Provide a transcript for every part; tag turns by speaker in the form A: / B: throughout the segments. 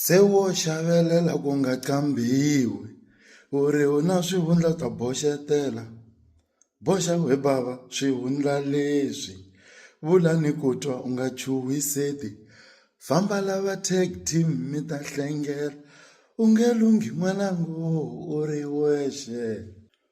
A: Se wo xavelela ku nga qambhiwi u ri u na swivundla u ta boxetela boxa we bava swivundla leswi vula ni ku twa u nga chuhiseti famba lava tag team mi ta hlengela u nge lunghi n'wananga u ri wexe.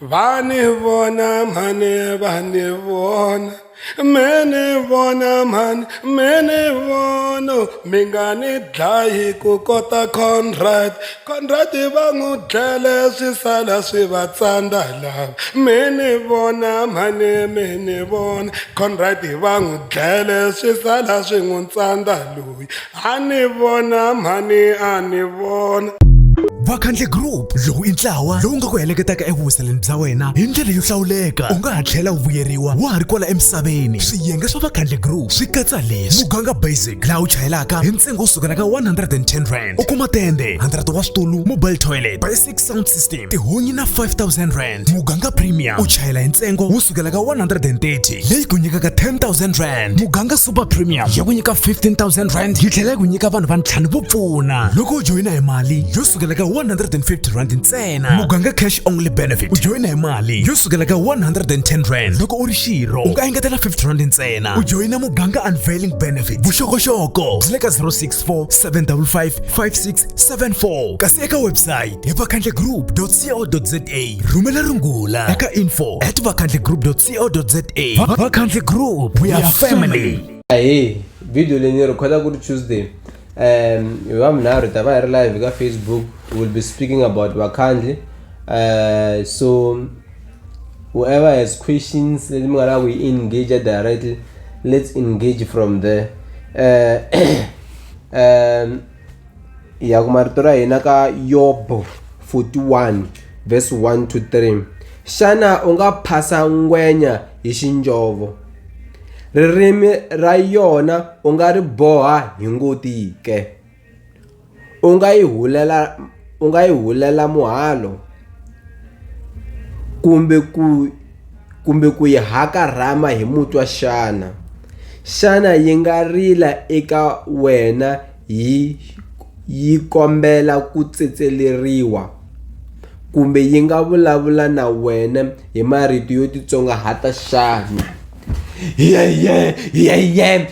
B: vani vona mhani vani vona mene vona mhani mene vono mi nga ni dlayi ku kota conrad conrad va n'wi dlele swi sala swi va tsandza lava mene vona mhani mene vona conrad va n'wi dlele swi sala swi n'wi tsandza lowu a ni vona mhani a ni vona vakhandle
C: group lowu i ntlawa lowu nga ku heleketaka evuhuseleni bya wena hi ndlela yo hlawuleka u nga ha tlhela u vuyeriwa wa ha ri kwala emisaveni swiyenge swa vakhandle group swi katsa leswi muganga basic laha u chayelaka hi ntsengo wo sukela ka 110 rand u kuma tende 100 wa switulu mobile toilet basic sound system tihunyi na 5000 rand rand muganga premium u chayela hi ntsengo wo sukela ka 130 leyi ku nyikaka 10000 rand muganga super premium ya ku nyika 15000 rand yi tlhela yi ku nyika vanhu va ntlhanu vo pfuna loko u joyina hi mali yo sukela ka 150 rand ntsena muganga cash only benefit u joyina hi mali yo sukela ka 110 rand loko u ri xirho u nga engetela 50 rand ntsena u joyina muganga unveiling benefit vuxokoxoko byi le ka 064 755 5674 kasi eka website hi vakhandle group vakhandlegroup.co.za rhumela rungula eka info at vakhandlegroup.co.za Va- vakhandle group we are family ahee
D: video leyi ni rhekhoda ku ri tuesday um hi vavunharhu hi ta va hi ri live ka facebook we will be speaking about vakhandli uh, so whoever has questions leti mi nga lava ku yi engage directly let's engage from there uh, um, ya ku marito ra hina ka yobo 41 verse 1 to 3 xana u nga phasa ngwenya hi xinjovo ririmi ra yona u nga ri boha hi ngoti ke u nga yi hulela u nga yi hulela muhalo kumbe ku kumbe ku yi hakarhama hi mutwa xana? Xana yi nga rila eka wena yi yi kombela ku tsetseleriwa? Kumbe yi nga vulavula na wena hi marito yo titsongahata xana?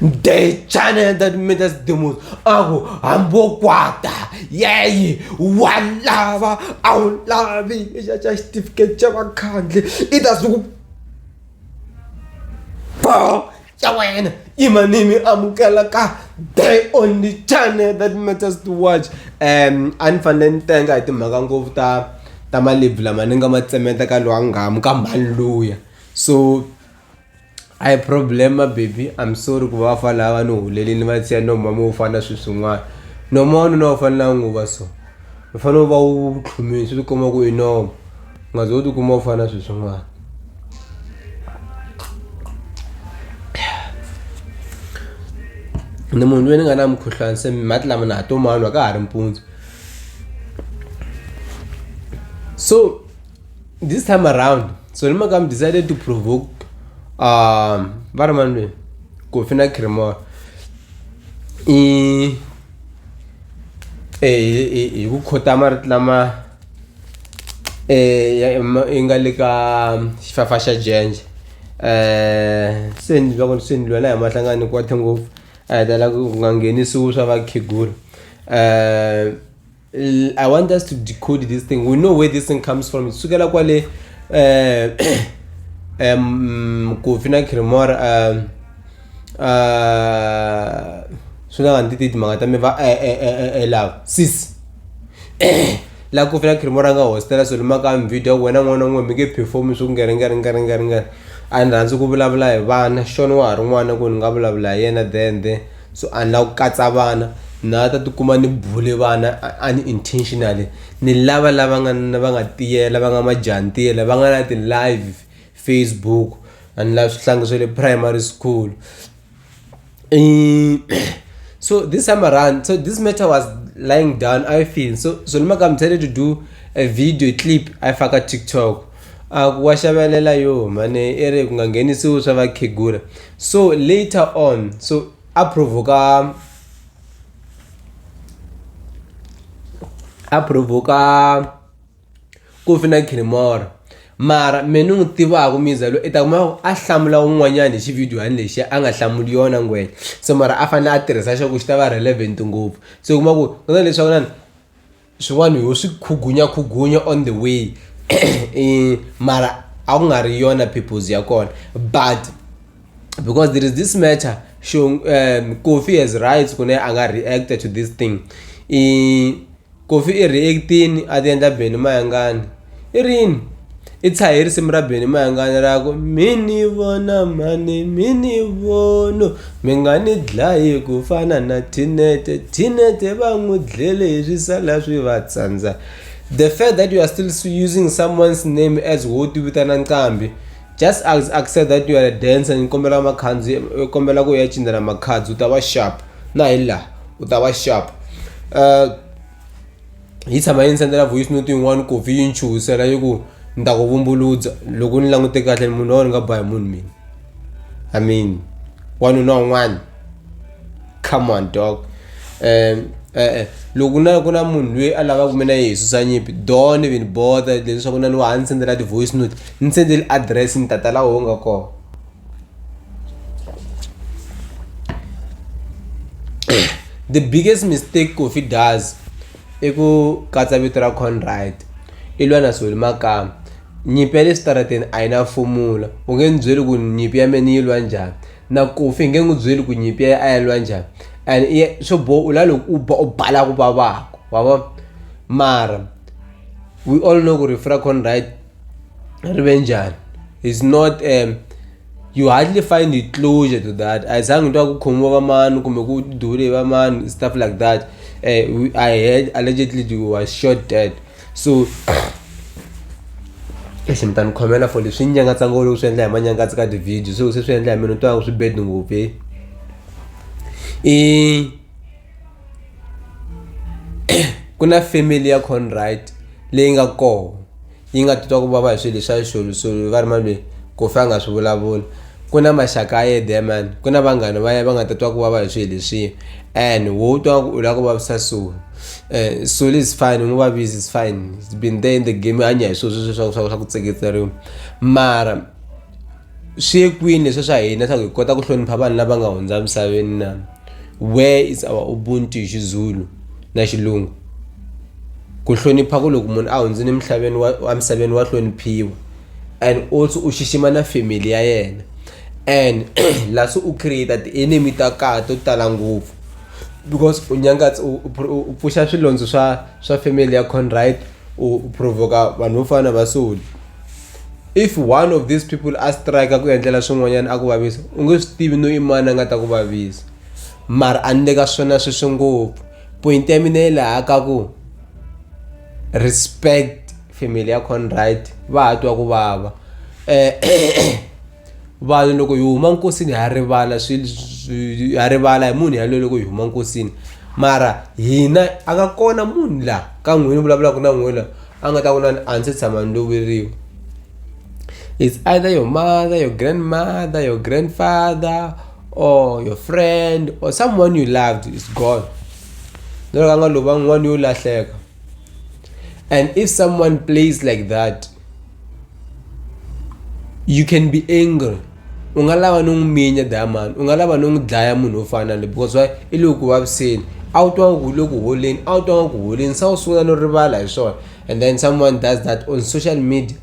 D: ndechane ndatimeta sidemosi aku hambokwata yeyi walava a wu lavi xa xa xitifiketi xa vakhandli i ta suku bo xa wena imanimi amukela ka the only channel that matters to watch um a ni fanele ni tenga hi timhaka ngopfu ta ta malebvu lama ni nga ma tsemeta ka lowa ngamu ka mhani luya so a hi problem baby I'm sorry ku va vafana lava ni hulele ni va tshiya no mama wo fana swilo swin'wana noma wanuna u fanele a nguva so u fanele u va u tlhumile swi tikomba ku i noma u nga ze u tikuma u fana swilo swin'wana ni munhu loyi ni nga na mukhuhlwani se mati lama na ha to manwa ka ha ri mpundzu so this time around so ni maka mi decided to provoke um va ri mani lweyi kofi na cremor i hi ku khota marito lama um i nga le ka xifafa xa jenje um se ni loko se ni lwela hi mahlangana ni kwate ngopfu a hi tala ku nga nghenisiwi swa vakhegula um I want us to decode this thing. We know where this thing comes from. Sukela kwale eh um Kofi na Kremora um uh suna ngandi titi mangata me va eh eh eh eh, eh love sis la Kofi na Kremora nga hostela so lima ka video wena n'wana n'we mi ke perform swo ngere ngere ngere ngere ngere a ni rhandzi ku vulavula hi vana xona wa ha ri n'wana ku ni nga vulavula hi yena then then so a ni lava ku katsa vana na ta tikuma ni bule vana unintentionally ni lava lava nga na va nga tiyela va nga majantiya lava nga na ti-live facebook a ni lava swihlangi swa le primary school so this time around so this matter was lying down i feel so so ni maka decided to do a video clip i faka tiktok a ku wa xavelela yo mhani i ri ku nga nghenisiwi swa vakhegula so later on so a provoka a provoka ku fina khirimoro mara me ni n'wi tivaka miza loyi i ta kuma a hlamula un'wanyana hi xividiyohani lexi a nga hlamuli yona ngwenya so mara a fanele a tirhisa xa ku xi ta va relevant ngopfu se u kuma ku ku na leswaku na ni swin'wana ho swi khugunya khugunya on the way eh, mara a ku nga ri yona purpose ya kona but because there is this matter show um, coffee has rights ku ne a nga reacta to this thing i coffee i reactini a ti endla beni mayangani i rini i tshahe risimu ra beni mayangani ra ku mi ni vona mhani mi ni vono mi nga ni dlayi ku fana na thinete thinete va n'wi dlele hi swisala swi va tsandza the fact that you are still using someone's name as wo ti vitana nqambi just accept that you are a dancer ni kombela makhandzi eh, kombela ku ya cinela makhadzi u ta va sharp na hi laha u ta va sharp uh, yi tshama yi ni sendela voice note yin'wani ku vhi yi ni chuhisela yi ku ni ta ku vumbuludza loko ni langute kahle munhu lowo ni nga ba hi munhu mina i mean wanuna un'wana come on dog um e-e loko na ku na munhu loyi a lavaka mina yi hi susa nyimpi don even bother leswaku na ni wa ha ni sendela ti-voice note ni sendeli address ni tata laha u nga kona the biggest mistake kofi does i ku katsa vito ra conride i lwa na sweli makama nyimpi ya le switarateni a yi na fomula u nge ni byeli ku nyimpi ya mina yi lwa njhani na kofi hi nge n'wi byeli ku nyimpi ya a ya lwa njhani and swo boha u la loko u ba u bala ku vavaka wa vona mara we all know ku ri frakon right ri ve njhani is not um you hardly find a closure to that a hi zangi ni twa ku khomiwa va mani kumbe ku dule va mani stuff like that um i heard allegedly you was shot dead so lexi mi ta ni khomela for leswi nyangatsangolo loku swi endla hi manyangatsi ka ti-video so se swi endla hi mina ni twa ku swi bed ngopfu i ku na family ya Conrad leyi nga kona yi nga titwa ku vava hi swilo swa xisuluxulu va ri malwini ku fa a nga swi vulavula ku na maxaka ya yena man ku na vanghana va yena va nga ta twa ku vava hi swilo leswiya and wo twa ku u lava ku vavisa sulu um eh, sulu is fine u n'wi vavisi is fine it's been there in the game hanya hi swilo sweswo swa ku swa ku swa ku tseketseriwa mara swi ye kwini leswi swa hina leswaku hi kota ku hlonipha vanhu lava nga hundza misaveni na where is our ubuntu hi xizulu na xilungu ku hlonipha ku loko munhu a hundzile emhlabeni wa wa misaveni wa hloniphiwa and also u xixima na family ya yena and la se u create ti-enemy ta kaya to tala ngopfu because u nyangatsa u u pro- u pfuxa swilondza swa swa family ya conrite u u provoka vanhu vo fana na vasoli if one of these people a strike ku endlela swin'wanyana a ku vavisa u nge swi tivi no i mani a nga ta ku vavisa mara a ni le ka swona sweswi ngopfu point ya mina yi laha ka ku respect family ya conrad va ha twa ku vava um vanhu loko hi huma nkosini ha rivala ha rivala hi munhu yaloyo loko hi huma nkosini mara hina a nga kona munhu laha ka n'wini vulavulaka na n'wina a nga ta ku nani a ndzi tshama ni loveriwa it's either your mother your grandmother your grandfather or your friend or someone you loved is gone na loko a nga lova n'wana yo lahleka and if someone plays like that you can be angry u nga lava no n'wi minya diamond u nga lava no n'wi dlaya munhu wo fana na le because why i le ku vaviseni a wu twangi ku le ku holeni a wu twangi ku holeni se u sungula no rivala hi swona and then someone does that on social media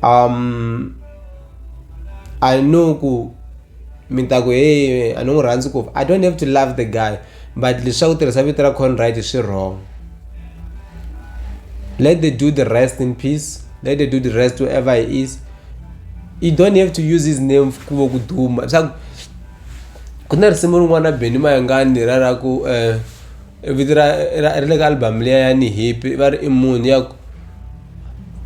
D: um i know ku mi ta ku hey a ni n'wi rhandzi ku i don't have to love the guy but leswaku tirhisa vito ra conrad swi wrong let the do the rest in peace let the do the rest whoever he is you don't have to use his name ku va ku duma leswaku ku na risimu rin'wana na beni mayangani ra ra ku um vito ra ra ri le ka album liya ya ni hipi va ri i munhu ya ku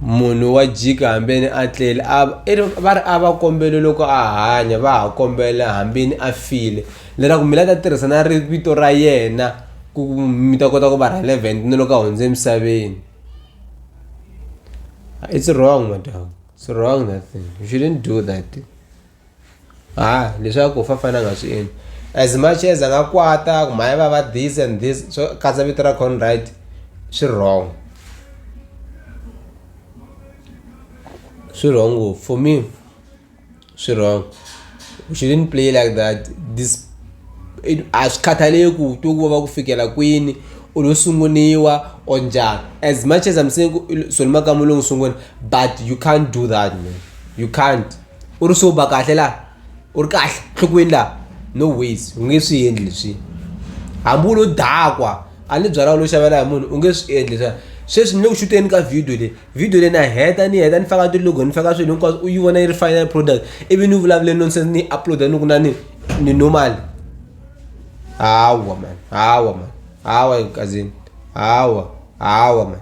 D: munhu wa jika hambeni a tlele a i ri va ri a va kombeli loko a hanya va ha kombela hambeni a file leswaku mi la ta tirhisa na ri vito ra yena ku mi ta kota ku va relevant ni loko a hundze emisaveni it's wrong madam it's wrong that thing you shouldn't do that. ha leswaku fa fana nga swi endli as much as a nga kwata ku mhaya va va this and this swo katsa vito ra conrad swi wrong swi wrong ngopfu for me swi wrong we shouldn't play like that this a swi khathaleki ku to ku va ku fikela kwini u lo sunguniwa or njhani as much as i'm saying ku solomaka mulungu sungula but you can't do that man you can't u ri sober kahle la u ri kahle nhlokweni laha no ways u nge swi endli leswi hambi u lo dakwa a ni byalwa u lo xavela hi munhu u nge swi endli leswiya sweswi ni le ku xuteni ka video leyi video leyi na heta ni heta ni faka ti-logo ni faka swilo hinkwaswo u yi vona yi ri final product ivi ni vulavule nonsense ni yi upload-a ni ku na ni ni normal hawa mani hawa mani hawa kazeni hawa hawa mani.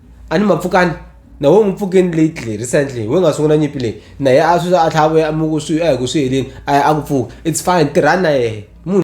D: a ni mapfukani na wena n'wi pfukeni leyi tlhe recently wena nga sungula nyimpi leyi na ye a swi a tlhela a vuya a muku swi a hi ku swi heleni a ya a ku pfuka it's fine tirhani na yehe munhu